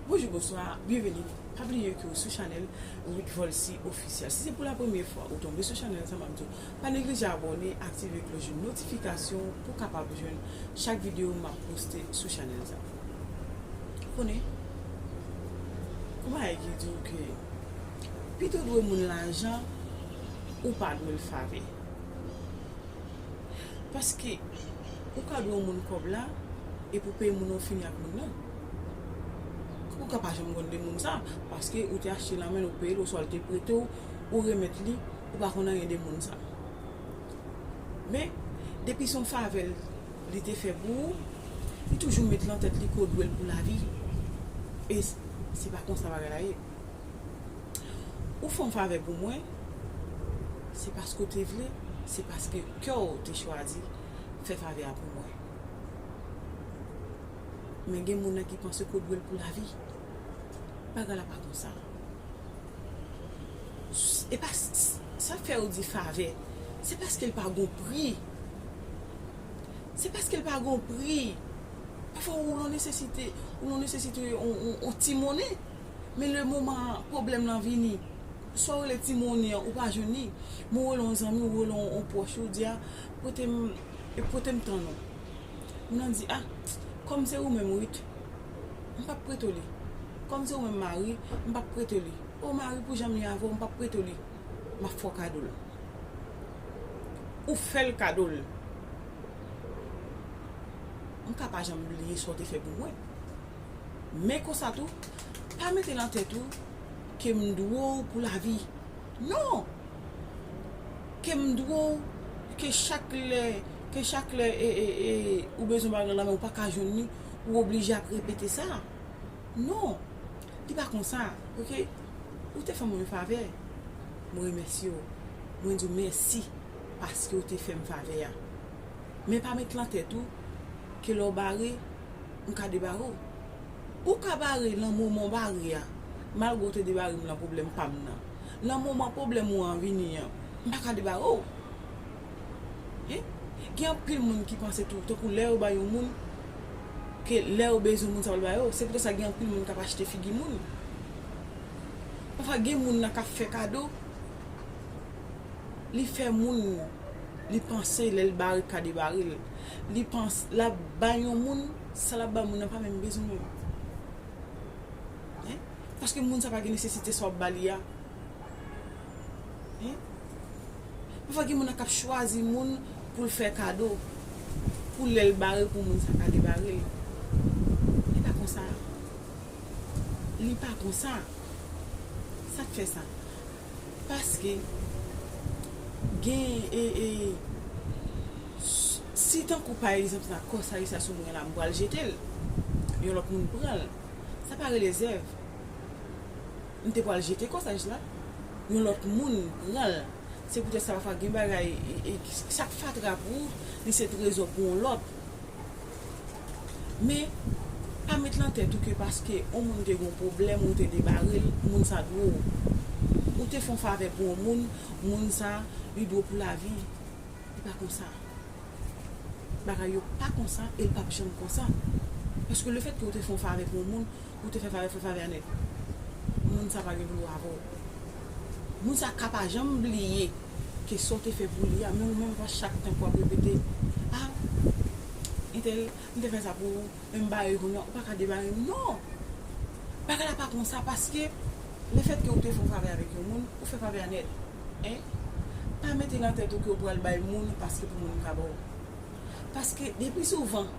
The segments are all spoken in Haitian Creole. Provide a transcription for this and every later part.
Bonjou bonswa byenveni pa bliye ke ou sou chanèl widvolcy officiel si se pou la premye fwa ou tonbe sou chanèl sa map diw pa neglije abòne aktive kloch de notifikasyon pou kapab jwenn chak video map poste sou chanèl sa ou konnen gon bagay ki diw ke pito ou dwe moun lajan ou pa dwel fave Paske ou ka dwe yon moun kòb la epi ou peye moun nan ou fini ak moun nan. Ou ka pa janm konn de moun sa paske ou te achte nan men l ou peye l oswa l te prete w ou remèt li ou pa konn anyen de moun sa. Men depi se yon favè li te fè pou ou li toujou met lan tèt li ke w dwe l pou lavi e se pa konsa bagay la ye. Ou fè yon favè pou mwen, se paske ou te vle, se paske kè w te chwazi fè favè a pou mwen. Men gen moun nan ki panse ke w dwe l pou lavi. Bagay la pa konsa. E pa sa k fè yo di favè, se paske l pa gen yon pri. Se paske l pa gen yon pri. Pafwa ou lan nesesite, ou lan nesesite yon ti monnen. Men le moman pwoblèm lan vini, sa w rele ti moni an ou pa jwenn li, men w rele yon zanmi w, ou rele yon pwòch ou, ou di a, pote m, pote m tann ou. Moun nan di a, kòm se ou menm Ruth, m p ap prete w li. Kòm se ou menm Marie, m p ap prete w li. O Marie pou jan m ye avè w, m p ap prete w li. M ap fè w kado l. Ou fè l kado l. M ka pa janm bliye sa w te fè pou mwen. Men konsa tou, pa mete nan tèt ou ke m dwe w pou lavi. Non! Ke m dwe w, ke chak lè, ke chak lè e, e, e, ou bezwen yon bagay lan men ou pa ka jwenn li, ou oblije ap repete sa. Non! Li pa konsa, ok? Ou te fè mwen yon favè, mwen remèsye w, mwen di w mèsi paske w te fè m favè a. Men pa met lan tèt ou ke lè w bare, m ka debare w. Ou ka bare lan moman w bare a. Malgre w te debare m lan pwoblèm pa m nan, lan moman pwoblèm ou an vini an, m pa ka debare w. Hein? Gen anpil moun ki panse tou, tankou lè yo bay yon moun, ke lè yo bezwen moun sa pral ba yo. Se poutèt sa gen anpil moun k ap achte figi moun. Pafwa gen moun nan k ap fè kado, li fè moun Li panse lèl barikade baril Li panse lap bay yon moun sa lap bay moun nan pa menm bezwen menm Hein paske moun sa pa gen nesesite sa wap bali a Hein pafwa gen moun kap chwazi moun poul fè kado pou lèl bare pou moun sa kade baril Li pa konsa Li pa konsa Sak fè sa. Paske gen e e si tankou pa egzanp sa kòsa Richard sou mwen la m pral jetel yon lòt moun pranl sa pa rele zèv m te pral jete kòsaj la yon lòt moun pranl se poutèt sa pafwa gen bagay e e sak fatra pou ou li se trezò pou yon lòt. Men, pa met lan tèt ou ke paske on moun te gen yon pwoblèm ou te debare l, moun sa dwe w. Ou te fè yon favè pou on moun, moun sa, li dwe w pou lavi. Li pa konsa. Bagay yo pa konsa e l pap janm konsa. Paske lefèt ke ou te fè yon favè pou on moun, ou te fè favè, fè favè a nèt. Moun sa pa gen pou l wè avè w. Moun sa ka pa janm bliye. Kesyon w te fè pou li a men ou menm pa chak tank wap repete ah intel m te fè sa pou ou men m bare kounye a ou paka debare m non bagay la pa konsa paske lefètke ou te fon favè avèk yon moun ou fè favè a nèt en pa mete nan tèt ou ke ou pral bay moun paske pou moun ka ba w paske depi souvan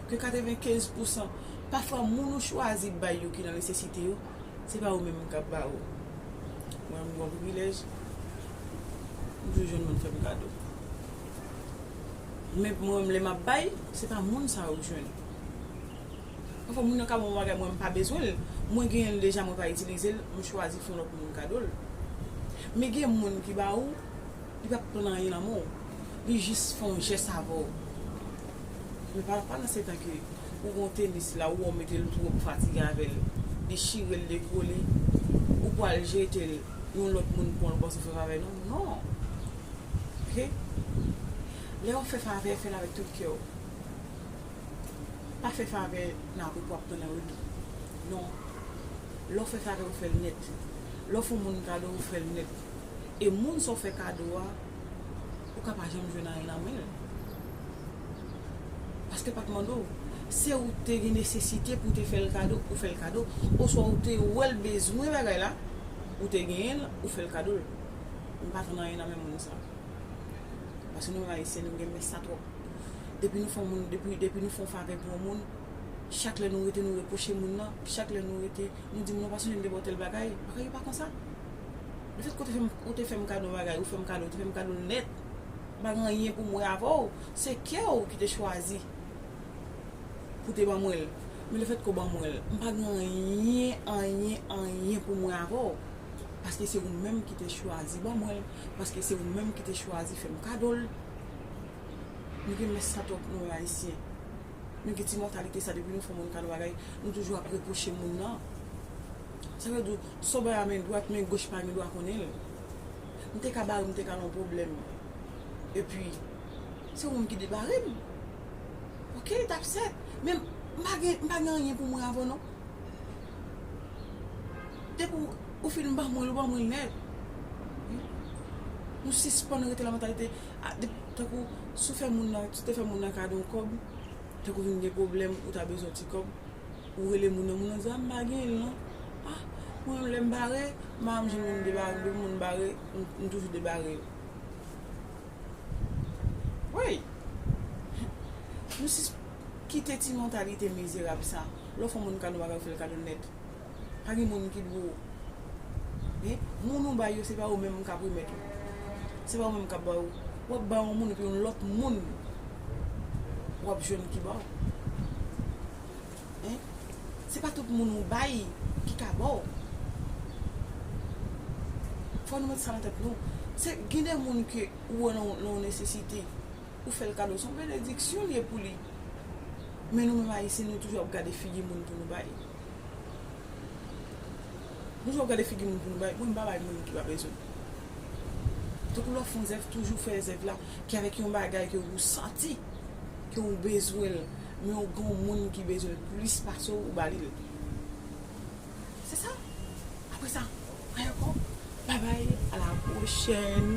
ke 95 pousan pafwa moun ou chwazi bay yo ki nan nesesite yo. Se pa ou menm m kap ba ou. Mwen m gon privilèj, m toujou jwenn moun fè m kado. Men mwen menm lè map bay, se pa moun sa yo k jwenn. Pafwa moun nan ka ban mwen yon bagay mwen m pa bezwen l, mwen genyen l deja mwen pa itilize l, m chwazi fè yon lòt moun kado l. Men gen moun ki ba ou. Li pap konn anyen nan men w. Li jis fè yon jès avè w. Men pa nan se tan ke ou gen yon tenis la ou wè w mete l twòp fatige avè l. Li chire l dekole. Ou pwal jete l. Yon lòt moun pran l ou panse w fè favè non. Non! Ok? Lè w fè favè, fè l avèk tout kè w. Pa fè favè nan apre pou w ap tann anredi. Non! Lè w fè favè ou fè l nèt. Lè w fè yon moun kado ou fè l nèt. e moun sa w fè kado a ou ka pa janm jwenn anyen nan men l paske l pa t mande w se ou te gen nesesite pou w te fè l kado ou fè l kado oswa ou te wè l bezwen bagay la ou te genyen l ou fè l kado l m pa tann anyen nan men moun sa paske nou menm ayisyen nou renmen sa twòp depi nou fè w moun depi nou fè w favè pou yon moun chak lè nou rete nou repwoche moun nan chak lè nou rete nou di moun nan w pa sonje m te ba w tèl bagay bagay yo pa konsa. Li te kote fèm ou te fèm kado yon bagay ou fèm kado ou te fèm kado nèt m pa gen anyen poum wè avèw se kèw ki te chwazi pou te ban mwen l men le fèt ke w ban mwen l m pa gen anyen anyen anyen poum wè avèw paske se ou menm ki te chwazi ban mwen l paske se ou menm ki te chwazi fèm kado l nou gen mès sa twòp nou menm ayisyen nou gen ti mantalite sa depi nou fè moun kado bagay nou toujou ap repwoche moun nan. Sa vle di, sobè a men dwat, men goch pa gen dwa konnen l. M te ka ba l, m te ka nan yon pwoblèm. Epi, se yon moun ki depare m. Ok, t ap sèt. Men, m pa gen, m pa gen anyen pou mwen avè w non. Depi w, ou fin ban mwen l, ou ban mwen l nèt. Nou sispann rete nan mantalite, a, depi, tankou, si w fè moun nan, si w te fè moun nan kado yon kòb, tankou w vin gen pwoblèm, ou ta bezwen yon ti kòb. Ou rele moun nan moun nan di a m pa genyen l non ah mwen menm lè m bare m pa janm jwenn moun debare m depi moun bare m toujou debare yo woy nou sis kite ti mantalite mizerab sa lè w fè yon moun kado w pa ka fè l kado nèt pa gen moun ki dwe w hein moun ou bay yo se pa yo menm k ap remèt ou se pa yo menm k ap ba w w ap bay yon moun epi yon lòt moun w ap jwenn ki ba w. hein se pa tout moun ou bay ki ka baw fò nou met sa nan tèt nou se gen de moun ke ou wè nan yon nesesite ou fèl kado son benediksyon li ye pou li men nou menm ayisyen nou toujou ap gade figi moun pou nou bay nou toujou ap gade figi moun pou nou bay mwen m pa bay moun ki pa bezwen donk lè w fon zèv toujou fè zèv la. Ki avèk yon bagay ke ou santi, ke ou bezwen l, men ou gen yon moun ki bezwen l plis pase w, ou ba li l. Se sa. Apre sa, anyen ankò, babay, a la pwochèn.